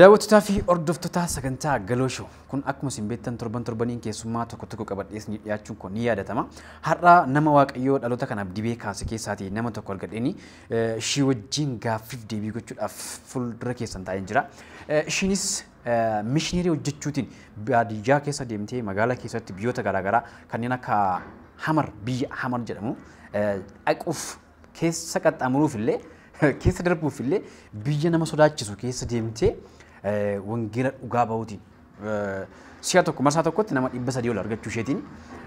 Daawwattotaa fi hordoftotaa sagantaa Galoo Show. Kun akkuma isin beektan torban torbaniin keessummaa tokko tokko qabadhee isinii dhiyaachuun koo ni yaadatama. Har'a nama Waaqayyoo dhaloota kanaaf dibee kaase keessaatii nama tokko argadheeni eh, ishii wajjin gaaffiif deebii gochuudhaaf fuuldura keessan taa'een jira. Eh, Ishiinis eh, mishineerii hojjechuutiin baadiyyaa keessa deemtee magaalaa keessatti biyyoota garaagaraa kanneen akka Hamar biyya Hamar jedhamu eh, dhaquuf keessa qaxxaamuruuf illee keessa darbuuf illee biyya nama sodaachisu keessa deemtee wangeela dhugaa bahuutiin si'a tokko marsaa tokkotti nama dhibba sadii ol argachuu isheetiin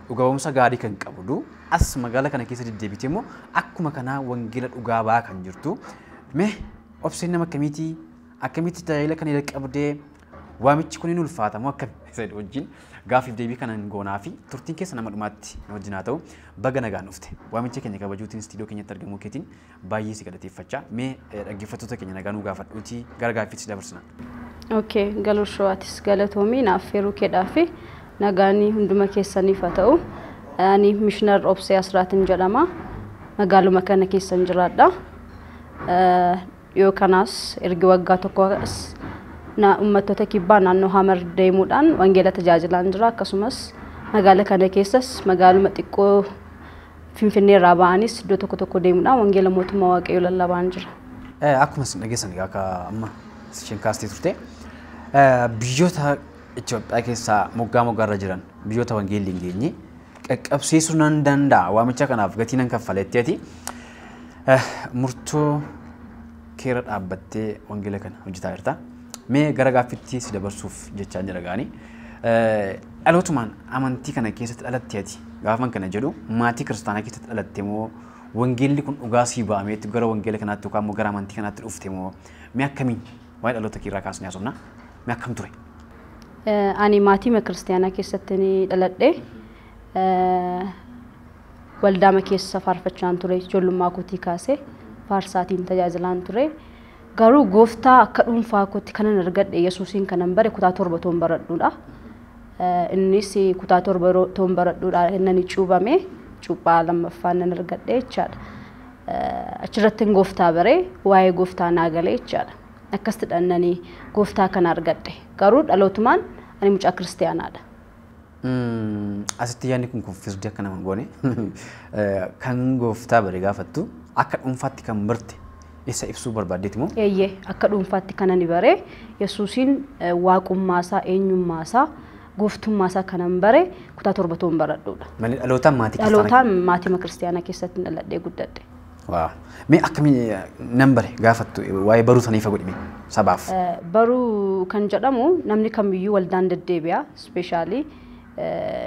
dhugaa ba'umsa gaarii kan qabdu as magaala kana keessa deddeebitee immoo akkuma kanaa wangeela dhugaa ba'aa kan jirtu mee obseen nama akkamiitii akkamitti tajaajila kana jalqabdee Waamichi kun hin ulfaata moo akkami? isa jedhu wajjin gaaffiif deebii kana hin goonaa fi turtiin keessa nama dhumaatti nu wajjin haa ta'u baga nagaan dhufte. Waamicha keenya kabajuutiin istiidiyoo keenyatti argamuu keetiin baay'ee si galateeffachaa mee eh, dhaggeeffattoota keenya nagaa nuu gaafadhuutii gara gaaffiitti si dabarsina. Okay, galoo showaatis galatoomii naaf feeruu keedhaa fi nagaanii hunduma keessaniif haa ta'u. Ani Mishnar Obsee Asraatin jedhama. Magaaluma kana keessan jiraadha. Eh, Dhiyoo kanas ergi waggaa tokko as na ummattoota kibbaa naannoo Hamar deemuudhaan wangeela tajaajilaan jira. Akkasumas magaala kana keessas magaaluma xiqqoo Finfinnee irraa ba'anis iddoo tokko tokko deemuudhaan wangeela mootummaa Waaqayyoo lallabaan jira. Eh, Akkuma isin dhageessan egaa akka amma isheen kaastee turte eh, biyyoota Itoophiyaa keessaa moggaa moggaarra jiran biyyoota wangeelli hin geenye qaqqabsiisu nan danda'a waamicha kanaaf gatii nan kaffaletti ati murtoo keera dhaabbattee wangeela kana hojjetaa jirta. Mee gara gaaffitti si dabarsuuf jechaa jira gaanii. Dhalootumaan amantii kana keessatti dhalattee ati gaafan kana jedhu maatii kiristaanaa keessatti dhalatte moo wangeelli kun dhugaa sii ba'ameetti gara wangeela kanaatti yookaan immoo gara amantii kanaatti dhufte moo mee akkamiin Waa'ee dhaloota kee irraa kaasnee haasofna. Mee akkam ture? Ani maatiima kiristaanaa keessatti ni dhaladhe. Waldaama keessa faarfachaan ture ijoollummaa kootii kaasee faarsaatiin tajaajilaan ture. Garuu gooftaa akka dhuunfaa kootti kanan argadhe Yesuusiin kanan bare kutaa torba toon baradhuudha. Innis kutaa torba toon baradhuudha innani cuubame cuuphaa lammaffaan nan argadhe jechaadha. Achirrattin gooftaa bare, waa'ee gooftaa naa gale jechaadha. Akkasitidhan ani gooftaa kana argadhe. Garuu dhalootumaan ani mucaa kiristiyaanaadha. Asitti yaadni kun kuffisdi akka nama hin goone. Kan gooftaa bare gaafattu akka dhuunfaatti kan barte isa ibsuu barbaaddeeti moo? Eeyyee, akka dhuunfaatti kan ani bare Yesuusiin waaqummaasaa, eenyummaasaa gooftummaa isaa kanan bare kutaa torba toon baradhuudha. Malee dhalootaan maatii kiristaanaa. Dhalootaan maatima kiristaanaa keessatti dhaladhee guddadhe. Waaw. Mee akkamii nan bare gaafattu waa'ee baruu sana ifa godhime sabaaf. Baruu kan jedhamu namni kamiyyuu waldaan deddeebi'a. Ispeeshaalii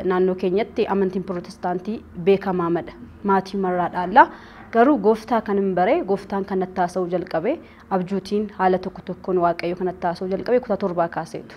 naannoo keenyatti amantiin pirootestaantii beekamaamadha. Maatii marraa dhaallaa. Garuu gooftaa kan hin bare gooftaan kan natti haasa'uu jalqabe abjuutiin haala tokko tokkoon waaqayyo kan natti haasa'uu jalqabe kutaa torbaa kaaseetu.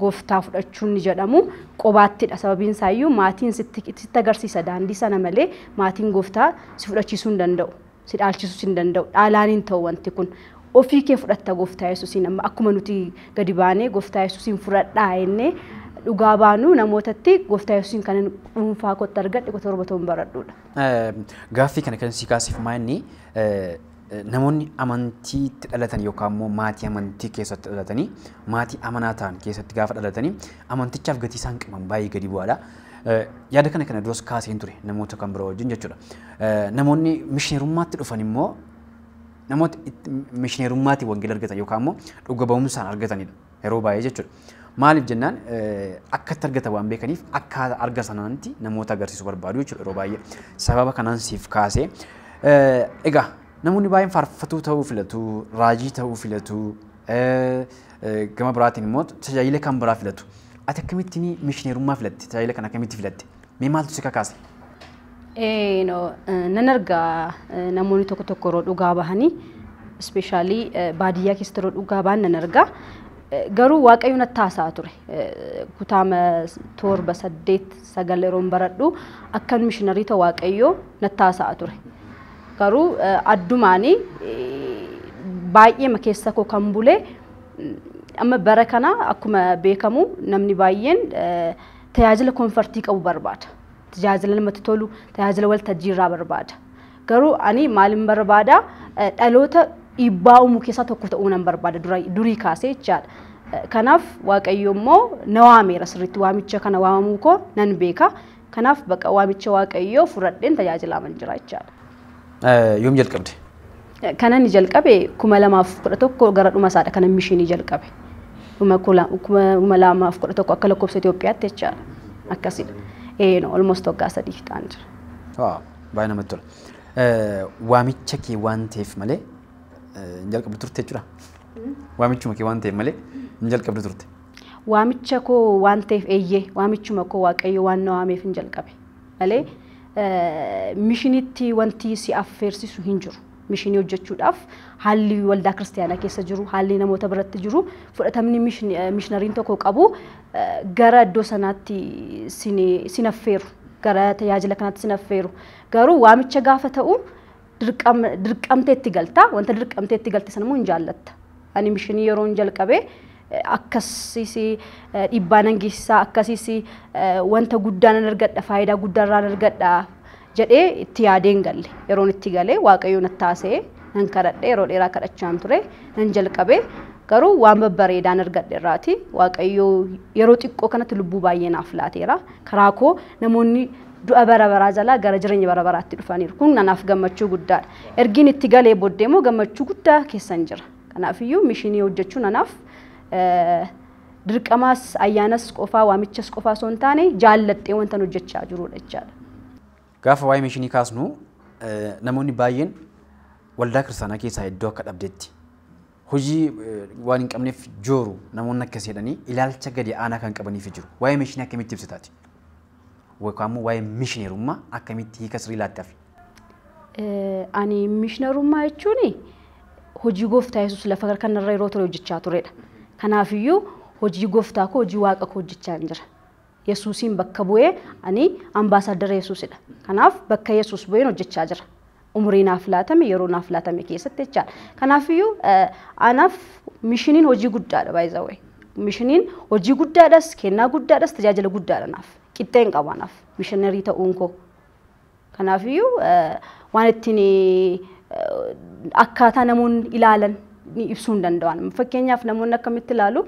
gooftaa fudhachuun ni jedhamu qobaattidha sababiin isaayyuu maatiin sitti sitti agarsiisa daandii sana malee maatiin gooftaa si fudhachiisuu hin danda'u si dhaalchisuu hin danda'u dhaalaan hin ta'u wanti kun ofii kee fudhatta gooftaa yesuusiin amma akkuma nuti gadi baanee gooftaa yesuusiin fudhadhaa jennee dhugaa baanu namootatti gooftaa yesuusiin kanan dhuunfaa kootti argadhe qotorba toon baradhuudha. Gaaffii kana kan si kaasif maa'inni Namoonni amantiitti dhalatan yookaan immoo maatii amantii keessatti dhalatanii maatii amanaa ta'an keessatti gaafa dhalatanii amantichaaf gatii isaan qaban baay'ee gadi bu'aadha. Yaada kana kana duras kaaseen ture namoota kan biroo wajjin jechuudha. Namoonni mishineerummaatti dhufan immoo namoota mishineerummaatiin wangeela argatan yookaan immoo dhuga ba'umsaan argatanidha. Yeroo baay'ee jechuudha. Maaliif jennaan akkatti argatan waan beekaniif akka arga sanaanti namoota agarsiisu barbaadu jechuudha yeroo baay'ee. Sababa kanaan siif kaasee. Egaa namoonni baay'een faarfatuu ta'uu filatu, raajii ta'uu filatu, gama biraatiin immoo tajaajila kan biraa filatu. Ati akkamittiin mishineerummaa filatte? Tajaajila kan akkamitti filatte? Mee maaltu si kakaase? Eh, no, eh, nan arga eh, namoonni tokko tokko yeroo dhugaa bahanii ispeeshaalii baadiyyaa keessatti yeroo dhugaa bahan nan arga. Eh, Garuu waaqayyo natti haasa'aa ture. Eh, Kutaama torba saddeet sagal yeroon baradhu akkan mishinarii ta'u waaqayyo natti haasa'aa ture. Garuu eh, addumaanii eh, baay'eema keessa koo kan bule mm, amma bara kana akkuma beekamu namni baay'een eh, tajaajila konfartii qabu barbaada. Tajaajila namatti tolu, tajaajila waltajjii irraa barbaada. Garuu ani maalin barbaada dhaloota dhiibbaa uumuu keessaa tokko ta'uu nan barbaada durii kaasee jechaadha. Kanaaf Waaqayyo immoo na waameera sirriitti waamicha kana waamamuu koo nan beeka. Kanaaf baqa waamicha Waaqayyoo fudhadheen tajaajilaa man jira jechaadha. Yoom jalqabde? Kan ani jalqabe kuma lamaaf kudha tokko gara dhuma isaadha kan mishiinii jalqabe. Dhuma kuma lamaaf kudha tokko akka lakkoofsa Itoophiyaatti jechaadha. Akkasidha. Eeno almost waggaa sadii ta'an jira. Waaw baay'ee namatti tola. Waamicha kee waan ta'eef malee hin jalqabdu turte jechuudha. Waamichuma kee waan ta'eef malee hin jalqabdu turte. Waamicha koo waan ta'eef eeyyee waamichuma koo waaqayyo waan na waameef hin jalqabe. malee mishinitti wanti si affeersisu hin jiru. Mishinii hojjechuudhaaf haalli waldaa kiristaanaa keessa jiru, haalli namoota biratti jiru, fudhatamni mishinariin tokko qabu gara iddoo sanaatti sin affeeru, gara tajaajila kanaatti sin affeeru. Garuu waamicha gaafa ta'u dirqamtee itti galta. Wanta dirqamtee itti galte sana immoo hin jaallatta. Ani mishinii yeroo hin jalqabee akkasiis dhiibbaa nan geessisaa akkasiis wanta guddaa nan argadha faayidaa guddaa irraa nan argadha jedhee itti yaadee hin galle. Yeroon itti galee waaqayyoo natti haasa'ee nan kadhadhe yeroo dheeraa kadhachaan ture nan jalqabee garuu waan babbareedaan argadhe irraati waaqayyoo yeroo xiqqoo kanatti lubbuu baay'ee naaf laateera. Karaa koo namoonni du'a bara baraa jalaa gara jireenya bara baraatti dhufaniiru. Kun anaaf gammachuu guddaadha. Ergiin itti galee booddee immoo gammachuu guddaa keessan jira. Kanaafiyyuu mishinii hojjechuun anaaf dirqamaas ayyaanas qofaa waamichas qofaa osoo hin taane jaalladhee wantan hojjechaa jirudha jechaadha. Gaafa waa'ee mishinii kaasnu namoonni baay'een waldaa kiristaanaa keessaa iddoo akka dhabdetti hojii waan hin qabneef jooru namoonni akkas jedhanii ilaalcha gadi aanaa kan qabaniif jiru. Waa'ee mishinii akkamitti ibsitaati? yookaan immoo waa'ee mishineerummaa akkamitti hiika sirrii laattaaf? Ani mishineerummaa jechuun hojii gooftaa Yesuus lafa kanarra yeroo ture hojjechaa turedha. Kanaafiyyuu hojii gooftaa koo hojii waaqa koo hojjechaa jira. Yesuusiin bakka bu'ee ani ambaasaaddara Yesuusidha. Kanaaf bakka Yesuus bu'een hojjechaa jira. umurii naaf laatame yeroo naaf laatame keessatti jechaadha. Kanaafiyyuu anaaf mishiniin hojii guddaadha by the way. Mishiniin hojii guddaadhas, kennaa guddaadhas, tajaajila guddaadha naaf. Qixxee hin qabu anaaf mishinarii ta'uun koo. Kanaafiyyuu waan ittiin akkaataa namoonni ilaalan ibsuu hin danda'an. Fakkeenyaaf namoonni akkamitti ilaalu?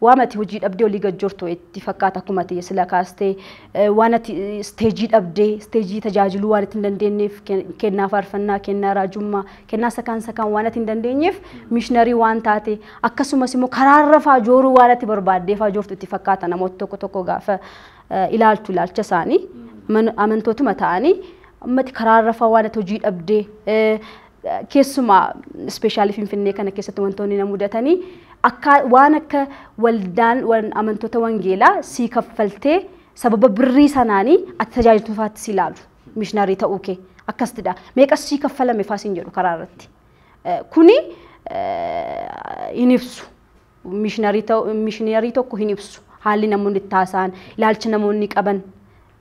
Waan ati hojii dhabdee olii gad jortu itti fakkaata akkuma ati sila kaastee eh, waan ati eh, isteejii dhabdee isteejii tajaajiluu waan itti hin dandeenyeef ken- kennaa faarfannaa kennaa raajummaa kennaa sakaan sakaan waan ati hin dandeenyeef miishinarii waan taate akkasumas immoo karaarra faajooruu waan ati barbaaddee faajoortu itti fakkaata namoota tokko tokko gaafa eh, ilaaltu ilaalcha isaanii man- amantootuma ta'anii ammati karaarra faa waan ati hojii dhabdee eh, Keessumaa ispeeshaalii Finfinnee kana keessatti wantoonni na mudatanii akka waan akka waldaan wan- amantoota wangeelaa sii kaffaltee sababa birrii sanaanii ati tajaajiltuu faatti si ilaalu mishinarii ta'uu kee akkasitidha. Meeqas sii kaffalame faa siin jedhu karaa irratti. Eh, Kuni eh, hin ibsu. Mishinarii ta'u- mishinarii tokko hin ibsu. Haalli namoonni itti haasa'an, ilaalcha namoonni qaban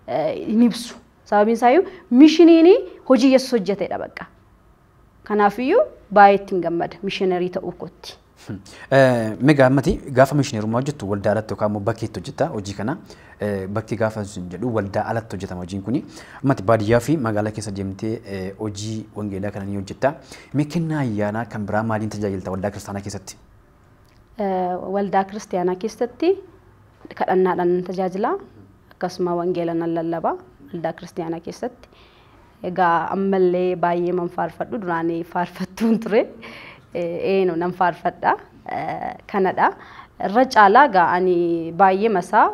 eh, hin ibsu. Sababiin isaayyuu mishiniin hojii Yesus hojjetedha bakka. Kanaafiyyuu baay'ee ittiin gammada mishinerii ta'uu kootti. Megaa ammati gaafa mishineerummaa hojjettu waldaa alatti yookaan immoo bakkeetti hojjetta hojii kana bakki gaafa sun jedhu waldaa alatti hojjetama hojiin kuni ammati baadiyyaa fi magaalaa keessa deemtee hojii wangeelaa kana ni hojjetta. Mee kennaa ayyaanaa kan biraa maaliin tajaajilta waldaa kiristaanaa keessatti? Waldaa kiristiyaanaa keessatti kadhannaadhaan nan tajaajila. Akkasuma wangeela nan lallaba waldaa kiristiyaanaa keessatti. Egaa ammallee baay'ee man faarfadhu duraan faarfattuun ture. Eenu nan faarfadha. Kanadha. Irra caalaa egaa ani baay'ee masaa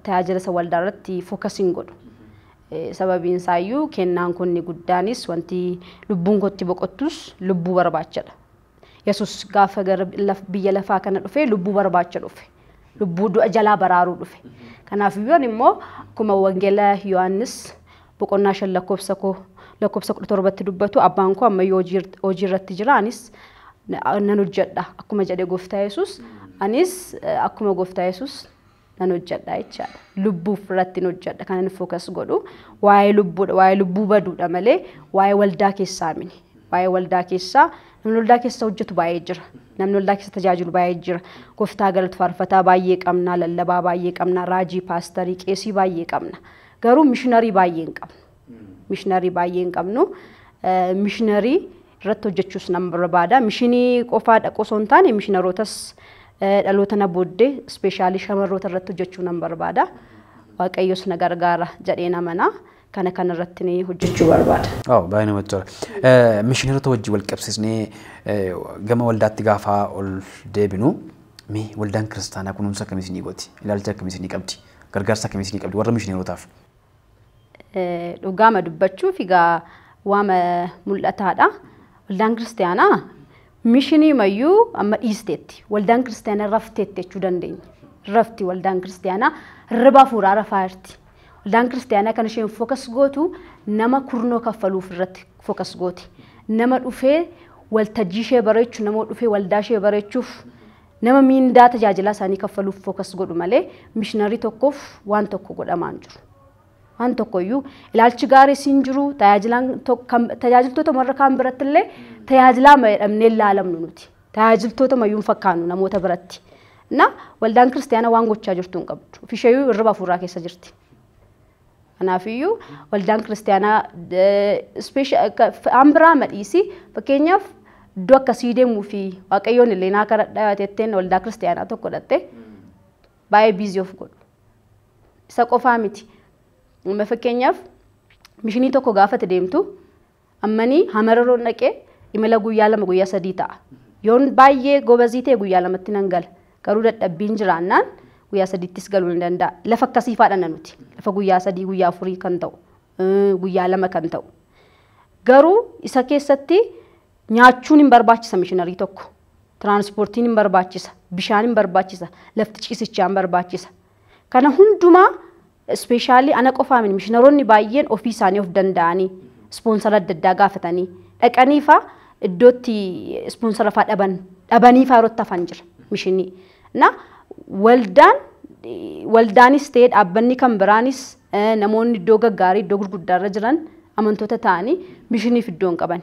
tajaajila isa waldaa irratti fookasiin godhu. Sababiin isaayyuu kennaan kun guddaanis wanti lubbuun kootti boqottus lubbuu barbaachadha. Yesus gaafa gara laf- biyya lafaa kana dhufe lubbuu barbaacha dhufe. Lubbuu du'a jalaa baraaruu dhufe. Kanaaf iyyuu ani immoo akkuma wangeela Yohaannis boqonnaa shan lakkoofsa koo lakkoofsa kudha torbatti dubbatu abbaan koo amma iyyuu hojii hojii irratti jira anis na- nan hojjedha akkuma jedhe gooftaa Yesus anis eh, akkuma gooftaa Yesus nan hojjedha jechaadha. Lubbuuf irratti hin hojjedha kan inni fookas godhu waa'ee lubbuudha waa'ee lubbuu baduudha malee waa'ee waldaa keessaa mini. Waa'ee waldaa keessaa namni waldaa keessa hojjetu baay'ee jira. Namni waldaa keessa tajaajilu baay'ee jira. Gooftaa galatu faarfataa baay'ee qabna, lallabaa baay'ee qabna, raajii, paastarii, qeesii baay'ee qabna. Garuu mishinarii baay'ee hin qabnu. Mishinarii baay'ee hin qabnu. Mishinarii irratti hojjechuus nan barbaada. Mishinii qofaa dhaquu osoo hin taane mishinarootas dhaloota na booddee ispeeshaalii shamarroota irratti hojjechuu nan barbaada. Waaqayyos na gargaara jedheen amana. Kana kana irratti ni hojjechuu barbaada. Oh, baay'ee namatti tola. Eh, Mishineerota wajjin wal qabsiisnee eh, gama waldaatti gaafa ol deebinu mee waldaan kiristaanaa kunuunsa akkamii isinii gooti? Ilaalcha akkamii isinii qabdi? Gargaarsa akkamii isinii qabdi? Warra mishineerotaaf. Dhugaama dubbachuuf egaa waama mul'ataadha. Waldaan kiristaanaa mishinii mayyuu amma dhiisteetti. Waldaan kiristaanaa rafteetti jechuu dandeenya. Rafti waldaan kiristaanaa hirriba hafuuraa rafaa jirti. Waldaan kiristaanaa kan isheen fokas gootu nama kurnoo kaffaluuf irratti fokas gooti. Nama dhufee waltajjii ishee bareechu, nama dhufee waldaa ishee bareechuuf Nama miindaa tajaajilaa isaanii kaffaluuf focus godhu malee mishinarrii tokkoof waan tokko godhamaa hin jiru. Waan tokko iyyuu ilaalchi gaariis hin jiru. Tajaajilaan tok- kan- Tajaajiltoota warra kaan biratti illee tajaajilaa ma jedhamnee hin laalamnu nuti. Tajaajiltoota mayyuu hin fakkaannu namoota biratti. Na waldaan kiristaanaa waan gochaa jirtu hin qabdu. Ofisheeyyuu hirriba hafuuraa keessa jirti. Kanaafiyyuu waldaan kiristaanaa waan biraa madhiisi fakkeenyaaf iddoo akkasii deemuu fi waaqayyoon illee naa kadhadhaa jetteen waldaa kiristaanaa tokko dhatte baay'ee biizii of godhu. Isa qofaa miti. Amma fakkeenyaaf mishinii tokko gaafate deemtu Ammani hamararoon dhaqee imala guyyaa lama guyyaa sadii ta'a. Yoon baay'ee gobazii ta'e guyyaa lamatti nan gala. Garuu dadhabbiin jiraannaan guyyaa sadiittis galuu ni danda'a. Lafa akkasii faadhana nuti. Lafa guyyaa sadii guyyaa afurii kan ta'u guyyaa lama kan ta'u. Garuu isa keessatti nyaachuun hin barbaachisa mishinarii tokko. Tiraansipoortiin hin barbaachisa. Bishaan hin barbaachisa. Lafti ciisichaa hin barbaachisa. Kana hundumaa ispeeshaalii ana qofaa miti mishinaroonni baay'een ofii isaanii of danda'anii ispoonsara adda addaa gaafatanii dhaqanii faa iddootti ispoonsara faa dhaban dhabanii faa yerootti hafan jira mishinii. Na waldaan waldaanis ta'ee dhaabbanni kan biraanis namoonni iddoo gaggaarii iddoo gurguddaarra jiran amantoota ta'anii mishiniif iddoo hin qaban.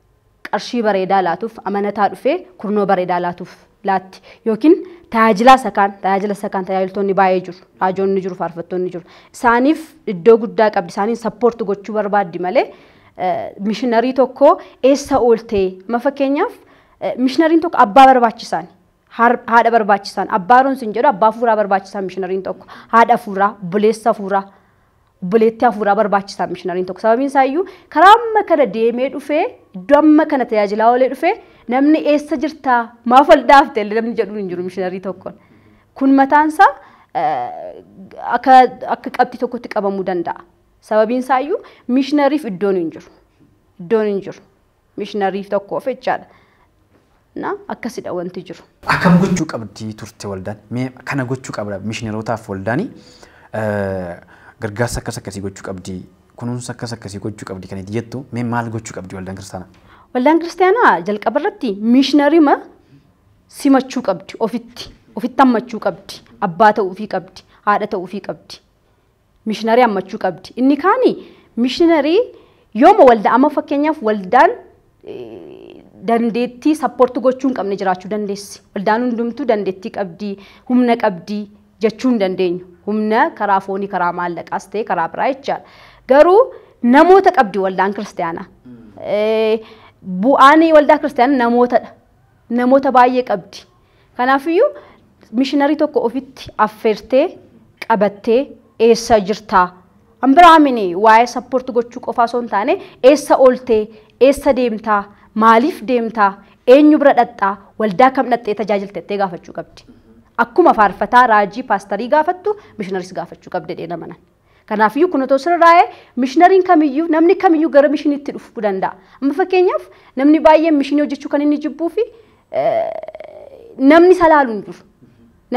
qarshii bareedaa laatuuf amanataa dhufee kurnoo bareedaa laatuuf laatti yookiin tajaajilaa isa kaan tajaajila isa kaan tajaajiltoonni baay'ee jiru raajoonni jiru faarfattoonni jiru isaaniif iddoo guddaa qabdi isaaniin sappoorti gochuu barbaaddi malee mishinarii tokko eessa ooltee ma fakkeenyaaf mishinariin tokko abbaa barbaachisaan haadha barbaachisaan abbaa roonsi hin jedhu abbaa fuuraa barbaachisaan mishinariin tokko haadha fuuraa buleessa fuuraa obboleettii hafuuraa barbaachisa mishinariin tokko sababiin isaa iyyuu karaa amma kana deemee dhufee iddoo amma kana tajaajilaa oolee dhufee namni eessa jirtaa maaf ol dhaafte illee namni jedhuun hin jiru mishinarii tokkoon kun mataan isaa akka akka qabxii tokkotti qabamuu danda'a sababiin isaa iyyuu mishinariif iddoon hin jiru iddoon hin jiru Mishinariif tokkoof jechaadha. Na akkasidha wanti jiru. Akkam gochuu qabdi turte waldaan? Mee kana gochuu qabda mishinarootaaf waldaani gargaarsa akkas akkasii gochuu qabdi kunuunsa akkas akkasii gochuu qabdi kan itti jettu mee maal gochuu qabdi waldaan kiristaanaa? Waldaan kiristaanaa jalqaba irratti mishinarima simachuu qabdi ofitti ofitti hammachuu qabdi abbaa ta'uufii qabdi haadha ta'uufii qabdi Mishinarii hammachuu qabdi. Inni kaani mishinarii yooma waldaa amma fakkeenyaaf waldaan eh, dandeettii sappoorti gochuu hin qabne jiraachuu dandeessi. Waldaan hundumtuu dandeettii qabdi, humna qabdi jechuu hin dandeenyu. Humna karaa foonii, karaa maallaqaas ta'e karaa biraa jechaadha. Garuu namoota qabdi waldaan kiristaanaa. Eh, Bu'aan waldaa kiristaanaa namootadha. Namoota baay'ee qabdi. Kanaafiyyuu mishinarii tokko ofitti affeertee qabattee eessa jirtaa? An biraa mini waa'ee support gochuu qofaa osoo hin taane eessa ooltee, eessa deemtaa, maaliif deemtaa, eenyu bira dhaqxaa, waldaa kam dhaqxee tajaajilta jettee gaafachuu qabdi. Akkuma faarfataa, raajii, paastarii gaafattu mishinaris gaafachuu qabdi jedheen amanan. Kanaafiyyuu kun otoo sirraa'ee mishinariin kamiyyuu namni kamiyyuu gara mishiniitti dhufuu danda'a. Amma fakkeenyaaf namni baay'een mishinii hojjechuu kan inni jibbuu fi namni isa laalu hin jiru.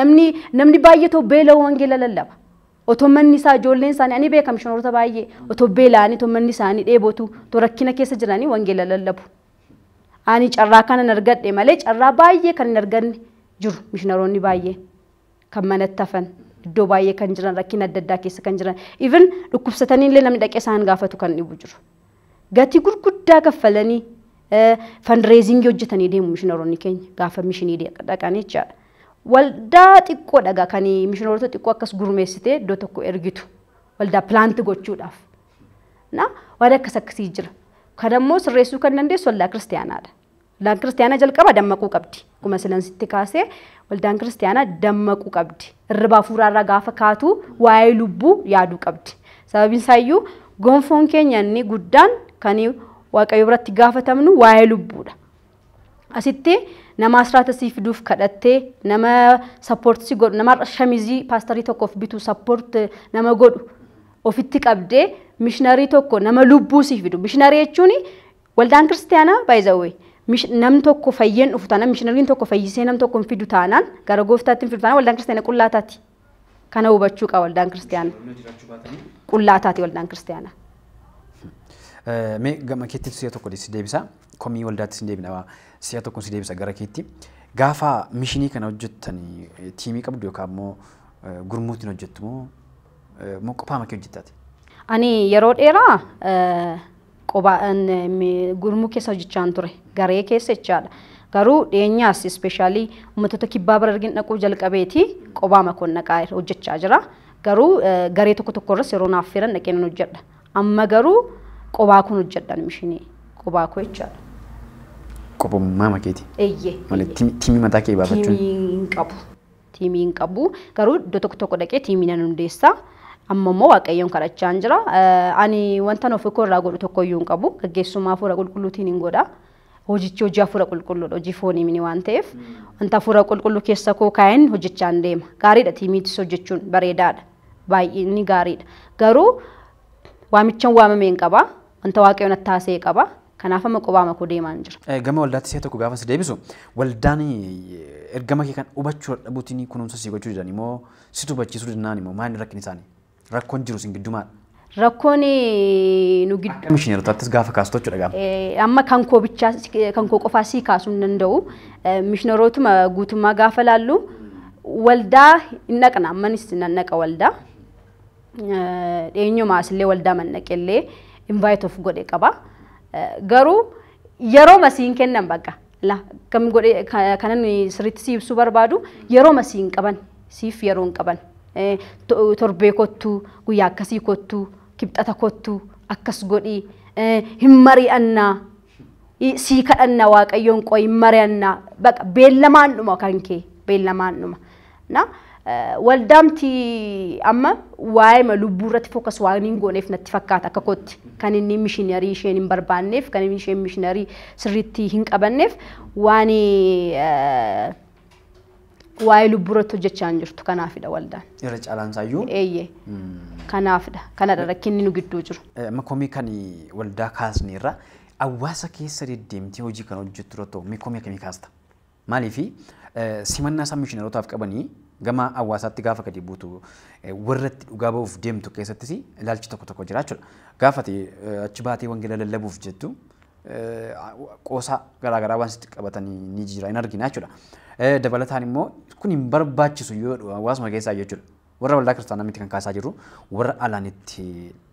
Namni namni baay'ee otoo beela'uu wangeela lallaba. Otoo manni isaa ijoolleen isaanii ani beeka mishinaroota baay'ee otoo beela'anii otoo manni isaanii dheebotu otoo rakkina keessa jiranii wangeela lallabu. Ani carraa kanan argadhe malee carraa baay'ee kan hin arganne jiru mishinaroonni baay'een. kan manatti hafan iddoo baay'ee kan jiran rakkina adda addaa keessa kan jiran even dhukkubsatanii illee namni dhaqee isaan gaafatu kan dhibu jiru. Gatii gurguddaa kaffalanii fandireezingii hojjetanii deemu mishinaroonni keenya gaafa mishinii dhaqan jechaadha. Waldaa xiqqoodha egaa kan mishinaroota xiqqoo akkas gurmeessitee iddoo tokko ergitu waldaa pilaanti gochuudhaaf. Na waan akkas akkasii jira. Kan ammoo sirreessuu kan dandeessu waldaa kiristaanaadha. Waldaan kiristaanaa jalqaba dammaquu qabdi. Akkuma silan sitti kaasee waldaan kiristaanaa dammaquu qabdi. Irriba hafuuraarraa gaafa kaatu waa'ee lubbuu yaaduu qabdi. Sababiin isaayyuu gonfoon keenya inni guddaan kan waaqayyo biratti gaafatamnu waa'ee lubbuudha. Asitti nama asraata sii fiduuf kadhattee nama sappoorti si godhu nama shamizii paastarii tokkoof bitu sappoorti nama godhu ofitti qabdee mishinarii tokko nama lubbuu sii fidu. Mishinarii jechuun Waldaan kiristiyaanaa by the way nam tokko fayyeen dhufu taanaan mishinariin tokko fayyisee nam tokko hin fidu taanaan gara gooftaatti hin fidu taanaan waldaan kiristiyaana qullaa taati. Kana hubachuu qaba waldaan kiristiyaana. Qullaa taati waldaan kiristiyaana. Mee gama keetti si'a tokko si deebisa. Komii waldaatti si deebina si'a tokko si deebisa gara keetti. Gaafa mishinii kana hojjettan tiimii qabdu yookaan immoo gurmuutiin hojjettu moo moo qofaama kee hojjettaati? Ani yeroo dheeraa qoba gurmuu keessa hojjechaan ture garee keessa jechaadha. Garuu dhiyeenyaas ispeeshaalii uummattoota kibbaa bara argin dhaquu jalqabeeti qobaa makoon dhaqaa hojjechaa jira. Garuu garee tokko tokko irras yeroo naaf firan dhaqee nan hojjedha. Amma garuu qobaa koon hojjedha mishinii qobaa koo jechaadha. Qobummaa makeeti. Eeyyee. Malee tiimii mataa kee baafachuun. Tiimii hin qabu. Tiimii hin qabu. Garuu iddoo tokko tokko dhaqee tiimii nan hundeessa. Amma immoo Waaqayyoon kadhachaan jira. Eh, Ani wanta nuuf koo irraa godhu tokko iyyuu hin qabu. Gaggeessummaa hafuura qulqulluutiin hin godha. Hojichi hojii hafuura qulqulluudha. Hojii foonii mini waan ta'eef. Wanta hafuura qulqulluu keessa koo kaa'een hojjechaan deema. Gaariidha tiimiitis hojjechuun bareedaadha. Baay'inni gaariidha. Garuu waamichan waamameen qaba. Wanta Waaqayyoon attaasee qaba. Kanaaf amma qobaama koo deemaan jira. Gama waldaatti si'a tokko gaafa si deebisu waldaan ergama kee kan hubachuu dadhabuutiin kunuunsa sii gochuu didanii moo situ hubachiisuu didnaan moo maal rakkin isaanii? Rakkoon jiru isin gidduu maal? Rakkoon nu gidduu. Akka mishineerotaattis gaafa kaastu jechuudha gaafa. Amma kan koo bichaa kan koo qofaa sii kaasuu hin danda'u. Mishineerootuma guutummaa gaafa laallu waldaa hin dhaqna ammanis nan dhaqa waldaa. dhiyeenyuma asillee waldaa mannaqellee invite of godhe qaba. Garuu yeroo masiin kennan bakka la kam godhe kanan sirriitti si ibsuu barbaadu yeroo masiin qaban siif yeroo hin qaban torbee kottu guyyaa akkasii kottu kibxata kottu akkas godhi hin mari'annaa Sii kadhanna waaqayyoon qoyi hin mari'anna baqa beellamaan dhuma kan kee beellamaan dhuma. Na waldaamti amma waa'ima lubbuu irratti fookas waan hin gooneef natti fakkaata akka kootti kan inni mishinarii isheen hin barbaanneef kan inni isheen mishinarii sirriitti hin qabanneef waan waa'ee lubbuu irratti hojjechaa hin jirtu kanaafidha waldaan. Irra caalaan isaayyuu. Eeyyee. Kanaafidha. Kanadha rakkinni nu gidduu jiru. Eh, Amma komii kan waldaa kaasne irra hawaasa keessa deddeemtee hojii kan hojjettu irratti hoo mee komii akkamii kaasta? Maaliif simannaa isaan mishinarootaaf qabanii gama hawaasaatti gaafa gadi buutu eh, warratti dhugaa ba'uuf deemtu keessattis ilaalchi tokko tokko jira jechuudha. Gaafati achi baatee wangeela lallabuuf jettu qoosaa garaa garaa waan sitti qabatanii ni jira hin argina jechuudha. Dabalataan immoo kun hin barbaachisu yoo hawaasuma keessaa jechuudha. Warra waldaa kiristaanaa miti kan kaasaa jiru warra alaan itti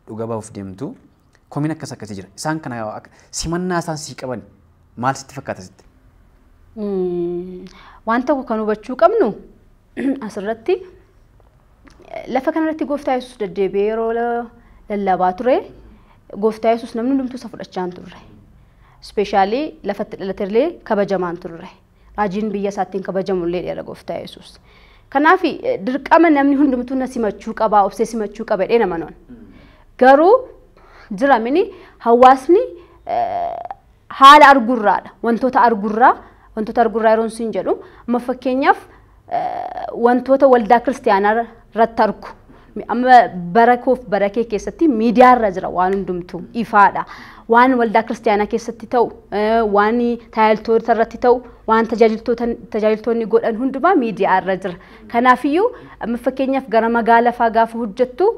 dhuga bahuuf deemtu komiin akkas akkasii jira. Isaan kana simannaa isaan sii qaban maal sitti fakkaata sitti? Waan tokko kan hubachuu qabnu asirratti lafa kanarratti gooftaa yesus deddeebi'ee yeroo lallabaa ture gooftaa yesus namni hundumtuu isa fudhachaa hin turre. Ispeeshaalii lafatti dhalaterlee kabajamaa hin turre. Raajiin biyya isaattiin kabajamullee dheera gooftaa yesus. Kanaaf dirqama namni hundumtuu na simachuu qabaa obsee simachuu qaba jedhee nama noon. Garuu jiramini hawaasni Haala argurraadha. Wantoota argurraa, wantoota argurraa yeroon sin jedhu, amma fakkeenyaaf wantoota waldaa kiristiyaanaa irratti argu. Amma bara koof bara kee keessatti miidiyaa irra jira waan hundumtuu ifaadha. Waan waldaa kiristiyaanaa keessatti ta'u, waan tajaajiltoota irratti ta'u, waan tajaajiltoonni godhan hundumaa miidiyaa irra jira. Kanaafiyyuu amma fakkeenyaaf gara magaala faa gaafa hojjettu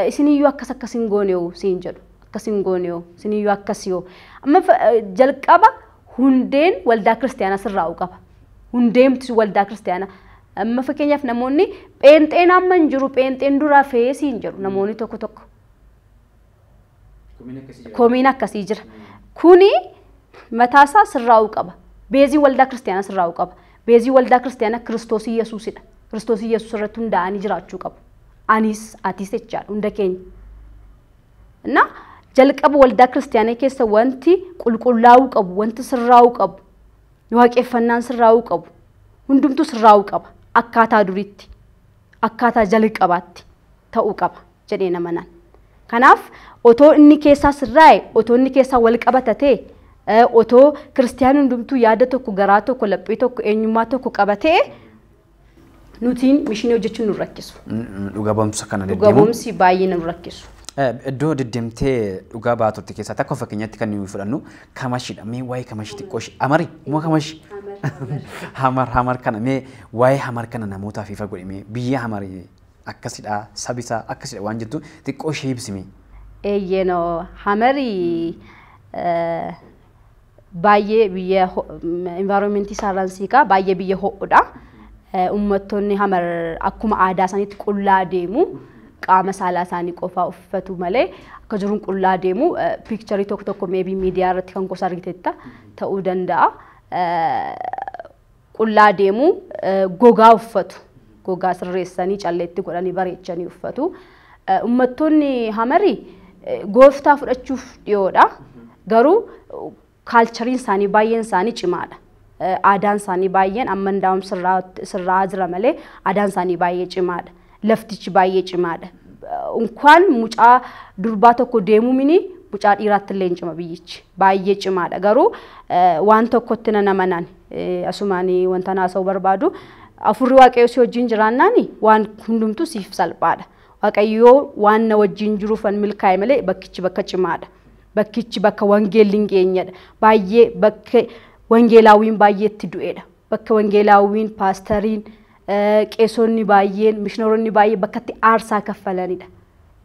isiniyyuu akkas akkas hin gooneewu siin jedhu. akkas hin goone hoo isin iyyuu akkasi hoo amma fa- eh, jalqaba hundeen waldaa kiristaanaa sirraa'u qaba hundeemti waldaa kiristaanaa amma fakkeenyaaf namoonni pheenxeen amma hin jiru pheenxeen duraa fe'ee siin jedhu namoonni tokko tokko Komiin akkasii jira. komiin akkasii jira kuni mataasaa sirraa'uu qaba beezii waldaa kiristaanaa sirraa'uu qaba beezii waldaa kiristaanaa kiristoos yesuusidha kiristoos yesuus irratti hundaa'anii jiraachuu qabu anis atis jechaadha hunda keenya እና jalqaba waldaa kiristaanaa keessa wanti qulqullaa'uu qabu, wanti sirraa'uu qabu, waaqeffannaan sirraa'uu qabu, hundumtuu sirraa'uu qaba. Akkaataa duriitti, akkaataa jalqabaatti ta'uu qaba jedhee nama nan. Kanaaf otoo inni keessaa sirraa'e, otoo inni keessaa wal qabata ta'e, eh, otoo kiristaanni hundumtuu yaada tokko, garaa tokko, laphee tokko, eenyummaa tokko qaba ta'e, Nutiin mishinii hojjechuun nu rakkisu. Dhuga ba'umsa kana Dhuga deddeemuun. ba'umsi baay'ee nu rakkisu. Eh, Iddoo deddeemtee dhugaa baatutti keessaa takka fakkeenyatti kan nuyi fudhannu kamashidha. Mee waa'ee kamashi xiqqoo ishee amari moo kamashi? Hamar hamar kana mee waa'ee hamar kana namootaaf ifa godhi mee biyya hamari akkasidha sabisaa akkasidha waan jettu xiqqoo ishee ibsi mee. Eeyyeno hamarii eh, baay'ee biyya environment isaarraan siiqaa baay'ee biyya ho'udha. Uummattoonni hamar akkuma aadaa isaaniitti qullaa deemu qaama saalaa isaanii qofaa uffatu malee akka jiruun qullaa deemu piikcharii tokko tokko meebii miidiyaa irratti kan gosa argiteetta ta'uu danda'a. qullaa deemu, gogaa uffatu. Gogaa sirreessanii calleetti godhanii bareechanii uffatu. Ummattoonni Hamari gooftaa fudhachuuf dhiyoodha. Garuu kaalchariin isaanii baay'een isaanii cimaadha. Aadaan isaanii baay'een amma hundaa'uun sirraa jira malee aadaan isaanii baay'ee cimaadha. Laftichi baay'ee cimaadha. Unkaan mucaa durbaa tokko deemuu mini mucaa dhiiraatti illee hin cima biyyichi. Baay'ee cimaadha. Garuu waan tokkotti nan amanaan asumaan wanta naasa'u barbaadu afurri waaqayyoo si wajjin jiraannaan waan hundumtuu siif salphaadha. Waaqayyoo waan na wajjin jiruuf kan milkaa'e malee bakkichi bakka cimaadha. Bakkichi bakka wangeelli hin geenyedha. Baay'ee bakka wangeelaawwiin baay'ee itti du'edha. Bakka wangeelaawwiin, paastariin, qeesonni baay'een, mishinaroonni baay'ee bakkatti aarsaa kaffalanidha.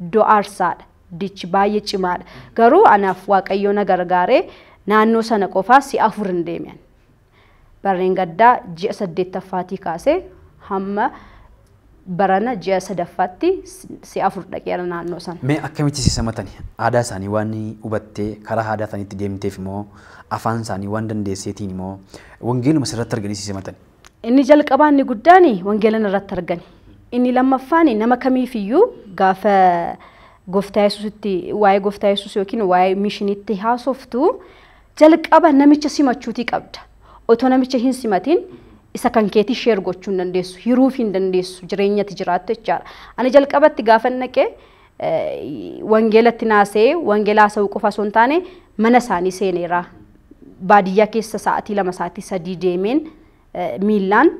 Iddoo aarsaadha. Dichi baay'ee cimaadha. Garuu anaaf Waaqayyoo na gargaaree naannoo sana qofaa si'a afur hin deeme ani. Barreen gaddaa ji'a saddeettaffaatii kaasee hamma barana ji'a sadaffaatti si'a afur dhaqeera naannoo sana. Mee akkamitti si simatani? Aadaa isaanii waan hubattee karaa aadaa isaaniitti deemteefi moo afaan isaanii waan dandeesseetiini moo wangeeluma sirratti arganii si simatani? Inni jalqabaa inni guddaan wangeela narratti argani. Inni lammaffaan nama kamiifiyyuu gaafa gooftaa yesuusitti waa'ee gooftaa yesuus yookiin waa'ee miishiniitti haasoftu Jalqaba namicha simachuutii qabda. Otoo namicha hin simatiin isa kan keetii sheer gochuu hin dandeessu. Hiruuf hin dandeessu. Jireenyatti jiraattu jechaadha. Ani jalqabatti gaafa naqee wangeelatti naasee wangeela haasa'uu qofa osoo hin taane mana isaanii seeneera. Baadiyyaa keessa sa'aatii lama sa'aatii sadii deemeen miillaan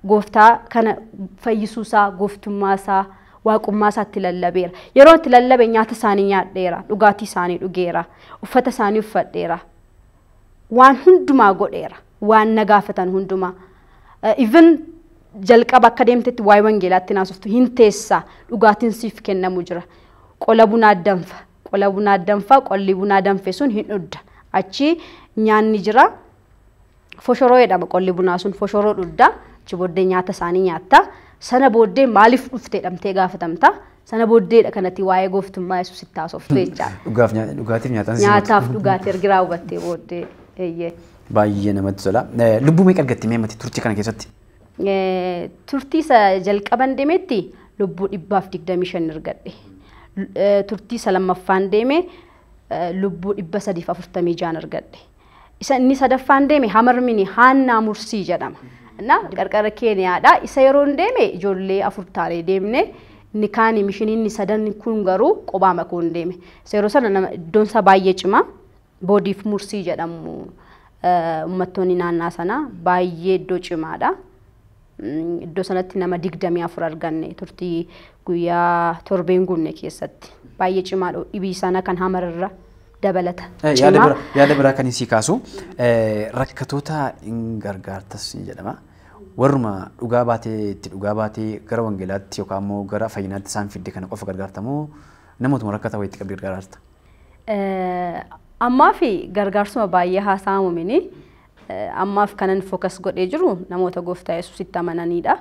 gooftaa kana fayyisuu isaa, gooftummaa isaa, waaqummaa isaa itti lallabeera. Yeroo itti lallabe nyaata isaanii nyaadheera, dhugaatii isaanii dhugeera, uffata isaanii uffadheera. Waan hundumaa godheera, waan na gaafatan hundumaa. Even jalqaba akka deemtetti waa'ee wangeelaatti naasoftu hin teessa, dhugaatiin siif kennamu jira. Qola bunaa danfa, qola bunaa danfa, qolli bunaa danfe sun hin dhudda. Achi nyaanni jira, foshoroo jedhama qolli bunaa sun foshoroo dhudda achi booddee nyaata isaanii nyaatta sana booddee maaliif dhufte jedhamtee gaafatamta sana booddeedha kanatti waa'ee gooftummaa yesuus itti haasoftu jechaadha. Dhugaaf nyaa- dhugaatiif nyaataan si Nyaataaf godhu. dhugaatii ergi raawwattee booddee eeyyee. Baay'ee namatti tola. Eh, Lubbuu meeqa argatte mee mati turtii kana keessatti? Eh, turtii isa jalqaban deemetti lubbuu dhibbaaf digdamii shan argadhe. L- eh, Turtii isa lammaffaan deeme eh, lubbuu dhibba sadiif afurtamii jaan argadhe. Isa inni sadaffaan deeme Hamarmini Haannaa Mursii jedhama. Na qarqara Keeniyaadha. Isa yeroon deeme ijoollee afur taanee deemne. Inni kaani mishiniinni sadan kun garuu qobaa makoon deeme. Isa yeroo sana nama iddoon isaa baay'ee cima. Boodiif Mursii jedhamu uummattoonni naannaa sanaa baay'ee iddoo cimaadha. Iddoo sanatti nama 24 arganne turtii guyyaa torbeen guunne keessatti. Baay'ee cimaa dhibii sana kan hamararra dabalata. Cimaa. Yaada biraa kan isii kaasu rakkatoota hin gargaartas ni jedhama. Warruma dhugaa baatee itti dhugaa baatee gara wangeelaatti yookaan immoo gara fayyinaatti isaan fidde kana qofa gargaartamoo namootuma rakkata wayitti qabdi gargaarta? Ammaa fi gargaarsuma baay'ee haasa'amu mini. Ammaaf kanan focus godhee jiru namoota gooftaa Yesuusitti amananiidha.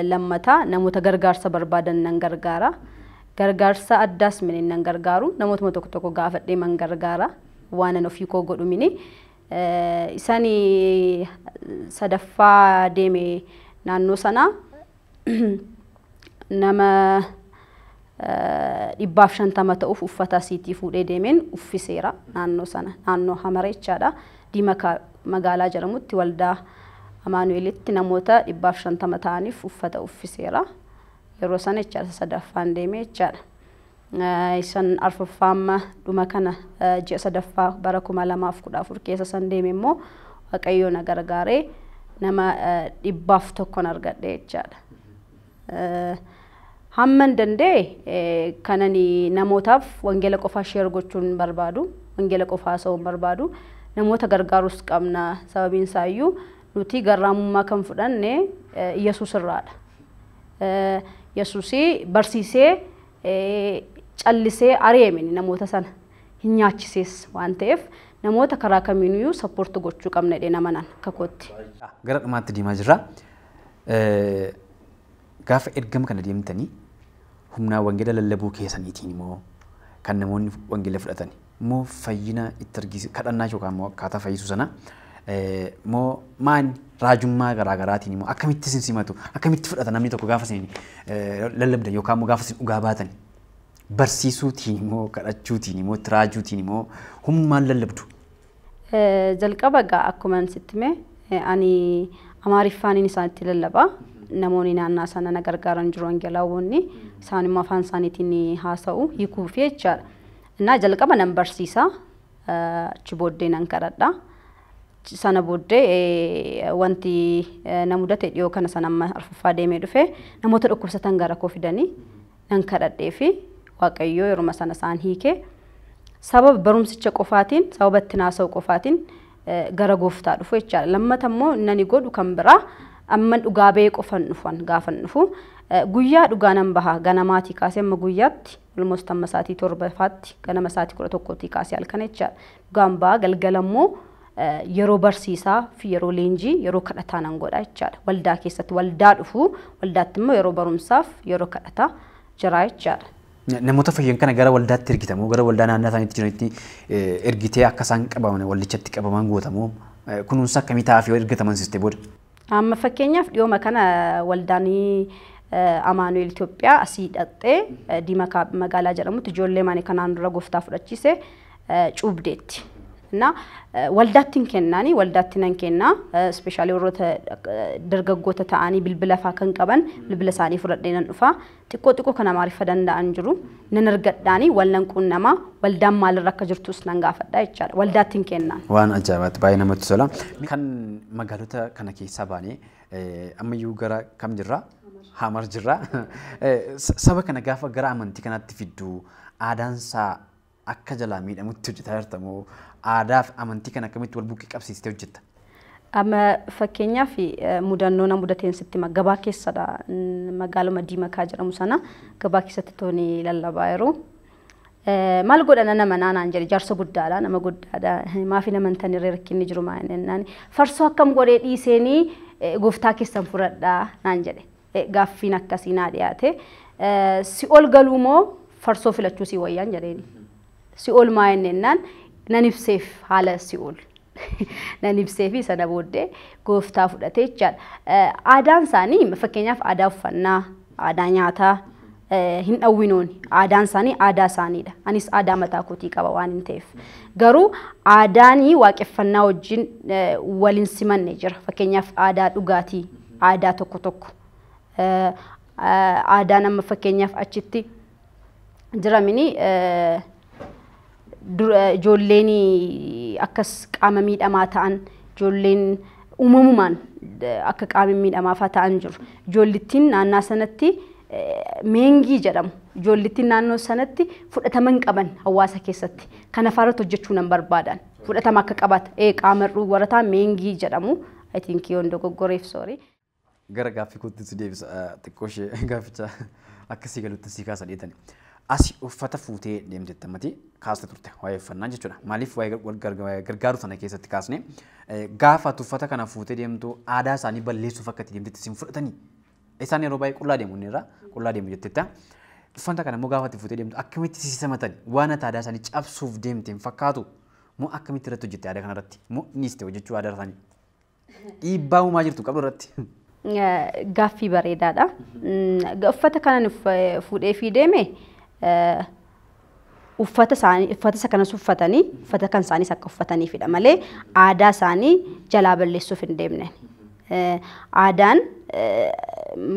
Lammata namoota gargaarsa barbaadan nan gargaara. Gargaarsa addaas mini nan gargaaru. Namootuma tokko tokko gaafadhee man gargaara. Waanan ofii koo godhu mini. Isani sadaffaa deeme naannoo sanaa nama dhibbaaf shantama ta'uuf uffata asiitii fuudhee deemeen uffiseera naannoo sana naannoo hamara jechaadha diimakaa magaalaa jedhamutti waldaa amaanu'elitti namoota dhibbaaf shantama ta'aniif uffata uffiseera yeroo sana jechaadha sadaffaan deemee jechaadha. Isan arfaffaa amma dhuma kana ji'a sadaffaa bara kuma lamaaf kudha afur keessa san deeme immoo Waaqayyoo na gargaaree nama dhibbaaf tokkon argadhe jechaadha. Hamman danda'e kanani namootaaf wangeela qofaa sheer gochuun hin barbaadu. Wangeela qofaa haasa'uu hin barbaadu. Namoota gargaarus qabna. Sababiin isaayyuu nuti garraamummaa kan fudhanne Yesuus irraadha. Yesuusii barsiisee callisee ari'eemini namoota sana hin nyaachisees waan ta'eef namoota karaa kamiiniyyuu sappoorti gochuu qabna jedhee namanan kakootti. Gara dhumaatti deemaa jirra. Gaafa ergama kana deemtanii humnaa wangeela lallabuu keessaniitiin immoo kan namoonni wangeela fudhatanii. Moo fayyina itti argisiisa kadhannaa ishee yookaan immoo akkaataa fayyisuu sana moo maan raajummaa garaa garaatiin immoo akkamitti isin simatu akkamitti fudhata namni tokko gaafa isin lallabdan yookaan immoo gaafa isin dhugaa baatan barsiisuutiin immoo kadhachuutiin immoo itti raajuutiin immoo hummaan lallabdu. Jalqaba egaa akkuma sitti mee ani amaariffaanin isaan itti lallaba namoonni naannaa sana na gargaaran jiru angelaawonni isaan immoo afaan isaaniitiin haasa'u hiikuuf jechaadha. Innaa jalqaba nan barsiisa, achi booddee nan kadhadha. Sana booddee wanti na mudate dhiyoo kana sana amma arfaffaa deemee dhufe namoota dhukkubsatan gara koo fidanii nan kadhadhee fi waaqayyoo yeruma sana isaan hiike. Sababa barumsicha qofaatiin, sababa itti naasa'u qofaatiin gara gooftaa dhufu jechaadha. Lammata immoo nani godhu kan biraa amman dhugaa ba'ee qofan dhufan gaafan dhufu guyyaa dhugaa nan baha ganamaatii kaasee amma guyyaatti Almost amma sa'aatii torbafaatti ganama sa'aatii kudha tokkootii kaasee halkana jechaadha. Dhugaan ba'a galgala immoo yeroo barsiisaa fi yeroo leenjii yeroo kadhataa nan godha jechaadha. Waldaa keessatti waldaa dhufu waldaatti immoo yeroo barumsaaf yeroo kadhataa jira jechaadha. Namoota fayyan kana gara waldaatti ergitamoo gara waldaa naannaa isaaniitti jiranitti ergitee akka isaan qabaman waldichatti qabaman gootamoo kunuunsa akkamii ta'aaf yoo ergataman sistee booda? Amma fakkeenyaaf dhiyooma kana waldaan Amaanu'eel Itoophiyaa asii dhaqxee Diimakaa magaalaa jedhamutti ijoollee maani kanaan dura gooftaa fudhachiise cuubdeetti. Innaa waldaatti hin kennaani waldaatti nan kennaa ispeeshaalii warroota dargaggoota ta'anii bilbila fa'aa kan qaban bilbila isaanii fudhadhee nan dhufaa Xiqqoo xiqqoo kan Amaariffa danda'an jiru. Nan argadhaanii wal nan quunnama. Waldaan maalirra akka jirtus nan gaafadha jechaadha. Waldaatti hin kennaan. Waan ajaa'ibaatti baay'ee namatti tola. Kan magaalota kana keessaa baanee ammayyuu gara kam jirra? Hamar jirra. Saba kana gaafa gara amantii kanaatti fiddu aadaan isaa Akka jalaa miidhamutti hojjetaa jirta moo aadaa fi amantii kana akkamitti wal bukkee qabsiistee hojjetta? Amma fakkeenyaaf mudannoo na mudateen sitti hima. Gabaa keessadha. Magaaluma Diimakaa jedhamu sana gabaa keessatti tooni lallabaa jiru. Maal godha nan amanaa naan jedhe jaarsa guddaadha nama guddaadha maafi namantan irree rakkinni jiru maa jennaan farsoo akkam godhee dhiiseenii gooftaa keessan fudhadhaa naan jedhe. Gaaffiin akkasii naa dhiyaate. Si'ol galuu moo farsoo filachuu sii wayyaan jedheeni. Si'ol maa inni ennaan nan ibseef haala si'ol. Nan ibseefi sana booddee gooftaa fudhatee jechaadha. Aadaan isaanii fakkeenyaaf aadaa uffannaa, aadaa nyaataa, hin dhawwinooni. Aadaan isaanii aadaa isaaniidha. Anis aadaa mataa kootii qaba waan hin ta'eef. Garuu aadaanii waaqeffannaa wajjin wal hin simanne jira. Fakkeenyaaf aadaa dhugaatii, aadaa tokko tokko. Aadaan amma fakkeenyaaf achitti jiramini Ijoolleen akkas qaama miidhamaa ta'an ijoolleen uumamumaan akka qaama miidhamaafaa ta'an jiru. Ijoollittiin naannaa sanatti meengii jedhamu. Ijoollittiin naannoo sanatti fudhatama hin qaban hawaasa keessatti. Kana faarratti hojjechuu nan barbaadan. Fudhatama akka qabaata. Ee qaama hir'uu warra ta'an meengii jedhamu. I think yoon dogoggoreef soorii. Gara gaaffii kootti si deebisa xiqqoo ishee gaafficha akka sii galutti sii kaasa dheetani. Asi uffata fuutee deemteetta mati kaasta turte waa'ee uffannaa jechuudha. Maaliif waa'ee wal garga- waa'ee gargaaru sana keessatti kaasne eh, gaafa ati uffata kana fuutee deemtu aadaa isaanii balleessuuf akka itti deemtetti sin fudhatanii. Isaan yeroo baay'ee qullaa deemu inni irraa qullaa deemu jetteetta. Uffata kana immoo gaafa ati fuutee deemtu akkamitti si simatani? Waan ati aadaa isaanii cabsuuf deemte hin fakkaatu? Moo akkamitti irratti hojjette aadaa kanarratti? Moo dhiiste hojjechuu aadaa isaanii? Dhiibbaa uumaa jirtu qabdu irratti. Gaaffii bareedaadha. Uffata kanan fuudhee fi deeme uffata isaanii uffata isa kanas uffatanii uffata kan isaaniis akka uffataniifidha malee aadaa isaanii jalaa balleessuuf hin deemne. Aadaan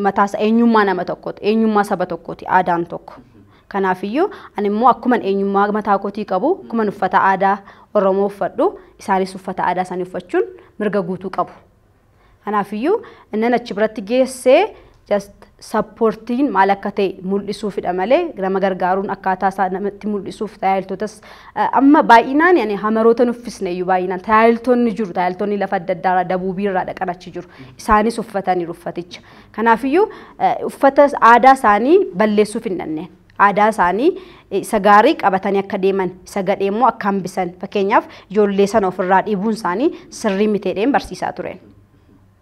mataasa eenyummaa nama tokkooti eenyummaa saba tokkooti aadaan tokko. Kanaafiyyuu, ani immoo akkuman eenyummaa mataa kootii qabu, akkuman uffata aadaa Oromoo uffadhu, isaanis uffata aadaa isaanii uffachuun mirga guutuu qabu. Kanaafiyyuu, innan achi biratti geesse just sappoortiin maal akka ta'e mul'isuufidha malee nama gargaaruun akkaataa isaa namatti mul'isuuf tajaajiltootas amma baay'inaan ani hamaroota nuffisne iyyuu baay'inaan tajaajiltoonni jiru tajaajiltoonni lafa adda addaarraa dabuubiirraa dhaqan achi jiru isaanis uffataniiru uffaticha Kanaafiyyuu uffata aadaa isaanii balleessuuf hin dhanneen. Aadaa isaanii isa gaarii qabatanii akka deeman, isa gadhee immoo akka hambisan fakkeenyaaf ijoollee sana ofirraa dhiibuun isaanii sirrii miteedheen barsiisaa tureen.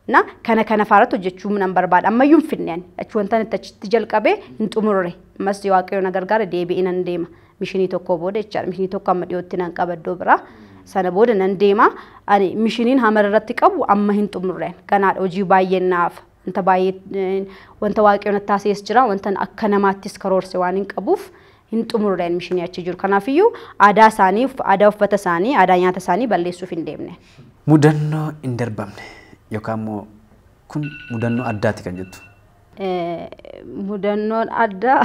Na kana kana faarratti hojjechuu nan barbaada. Ammayyuu hin fidneen. Achi wantan itti achitti jalqabee hin xumurre. Ammas waaqayyo na gargaara deebi'ee nan deema. mishinii tokkoo booda jechaadha. Mishinii tokko amma dhiyootti nan qaba iddoo biraa. Sana booda nan deema. Ani mishiniin hamara irratti qabu amma hin xumurreen. Ganaadha hojii baay'een naaf. Wanta baay'ee wanta waaqayyoon attaasiis jira. Wanta akka namaattis karoorse waan hin qabuuf hin xumurreen mishinii achi jiru. Kanaafiyyuu aadaa isaanii, aadaa uffata isaanii, aadaa nyaata isaanii balleessuuf hin deemne. Mudannoo hin darbamne yookaan immoo kun mudannoo addaati kan jettu. Mudannoon addaa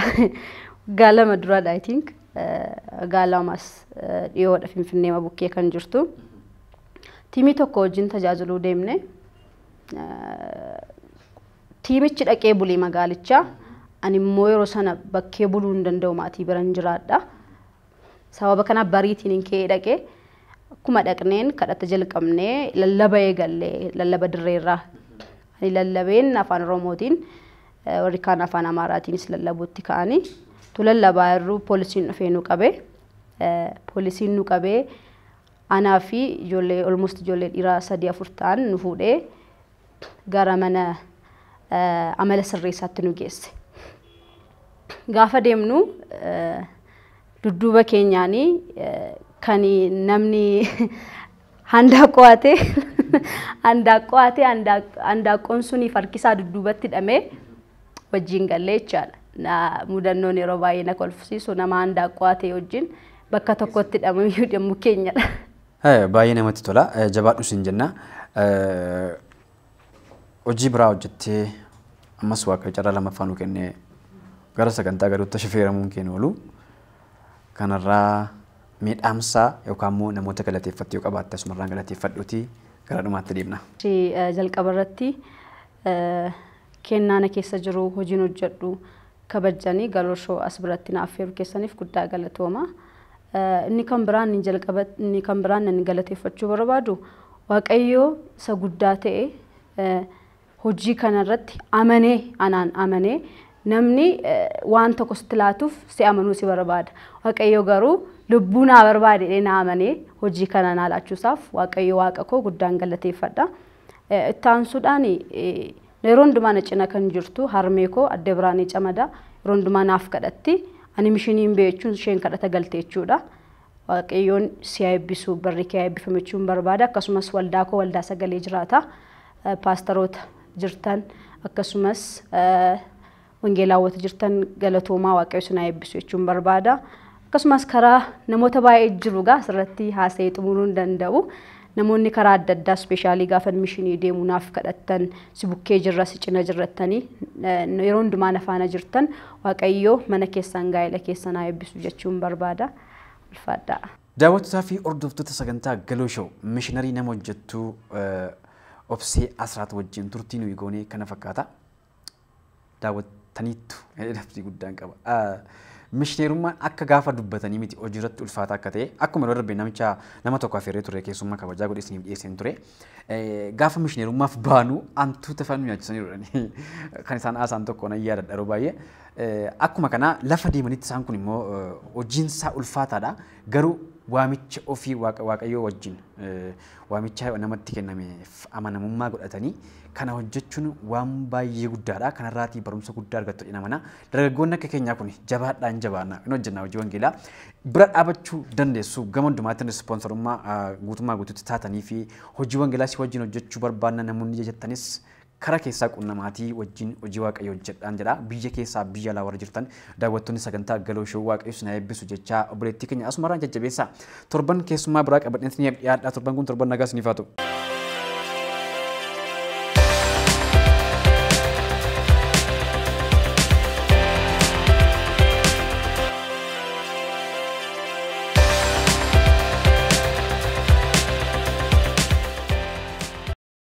waggaa lama duraadha I think. Waggaa lamas dhiyoodha Finfinneema bukkee kan jirtu. Tiimii tokko wajjin tajaajiluu deemne. Tiimichi dhaqee bulee magaalichaa. Ani immoo yeroo sana bakkee buluu hin danda'u maatii biran jiraadha. Sababa kanaaf bariitiinin ka'ee dhaqe. Akkuma dhaqneen kadhata jalqabne lallaba eegalle lallaba dirreerraa. Ani lallabeen afaan Oromootiin eh, warri kaan afaan Amaaraatiinis lallabuutti ka'anii tu lallabaa irruu poolisiin dhufee nu qabe. Eh, Poolisiin nu qabee anaa fi ijoollee almost ijoollee dhiiraa sadii afur ta'an nu fuudhee gara mana amala sirreessaatti nu geesse. Gaafa deemnu dudduuba keenyaan kan namni handaa qo'ate handaa qo'ate handaa qoon suniif harkisaa dudduubatti hidhamee wajjin gallee jechaadha. Mudannoon yeroo baay'ee na kolfisiisu nama handaa qo'ate wajjin bakka tokkotti hidhamu iyyuu dhimmu keenyadha. Baay'ee namatti tola. Jabaadhu siin jenna. Hojii biraa hojjettee ammas waaqayyo carraa lammaffaa nu kennee gara sagantaa gaduutti shifeeramuun kee nu oolu. Kanarraa miidhaamsaa yookaan immoo namoota galateeffatte yoo qabaatte asumarraan galateeffadhuuti gara dhumaatti deemna. Jalqaba irratti Kennaa na keessa jiru hojiin hojjedhu kabajjani Galoo Show as biratti na affeeru keessaniif guddaa galatooma. Inni kan biraan inni jalqaba inni kan biraan nan galateeffachuu barbaadu Waaqayyoo isa guddaa ta'e hojii kana irratti amanee anaan amanee namni waan tokko sitti laatuuf si amanuu si barbaada. Waaqayyoo garuu lubbuu naa barbaade jedhee naa amanee hojii kana naa laachuusaaf Waaqayyo waaqa koo guddaan galateeffadha. Itti aansuudhaan yeroo hundumaa na cina kan jirtu harmee koo adde Biraanee Camadaa yeroo hundumaa naaf kadhatti. Ani mishinii hin beeku jechuun isheen kadhata galte jechuudha. Waaqayyoon si haa eebbisu barri kee haa eebbifame jechuun barbaada. Akkasumas waldaa koo waldaa sagalee jiraata. Paastaroota jirtan akkasumas Wangeelaa hawwata jirtan galatoomaa waaqayyo isin haa eebbisu jechuun barbaada. Akkasumas karaa namoota baay'ee jiru gaa asirratti haasa'ee xumuruu hin danda'u. Namoonni karaa adda addaa ispeeshaalii gaafa mishinii deemu naaf kadhattan si bukkee jirra si cina jirrattanii yeroo hundumaa na faana jirtan waaqayyoo mana keessan gaa'ela keessan haa eebbisu jechuun barbaada. Ulfaadhaa. Daawwattotaa fi hordoftoota sagantaa Galoo Show mishinarii nama hojjettuu Obsee Asraat wajjin turtii nuyi goonee kana fakkaata. daawwattaniittu jedhee labsii guddaan qaba. Mishineerummaan akka gaafa dubbatanii miti hojiirratti ulfaataa akka ta'e akkuma yeroo darbe namicha nama tokko affeerree ture keessummaa kabajaa godhe isiniif dhiyeesseen ture. Gaafa mishineerummaaf baanu hantuuta faana nu nyaachisanii jedhani kan isaan haasaan tokko nan yaadadha yeroo baay'ee. Akkuma kana lafa deemanitti isaan kun immoo hojiin isaa ulfaataadha. Garuu waamicha ofii Waaqa Waaqayyoo wajjin waamicha namatti kennameef amanamummaa godhatanii kana hojjechuun waan baay'ee guddaadha. Kanarraatii barumsa guddaa argattu jedhina mana. Dargaggoonni akka keenyaa kun jabaadhaa hin jabaanna hin hojjennaa hojii wangeelaa bira dhaabachuu dandeessu gama hundumaatiin ispoonsarummaa guutummaa guutuutti taatanii fi hojii wangeelaa si wajjin hojjechuu barbaanna namoonni jettanis Kara keessaa qunnamaatii wajjin hojii waaqayyoo hojjedhaan jedha. Biyya keessaa biyya alaa warri jirtan daawwattoonni sagantaa Galoo Show waaqayyo isin haa eebbisu jechaa obboleettii keenya asumaraan jajjabeessaa. Torban keessummaa biraa qabadheen isiniif dhiyaadhaa torban kun torban nagaa isiniif haa ta'u.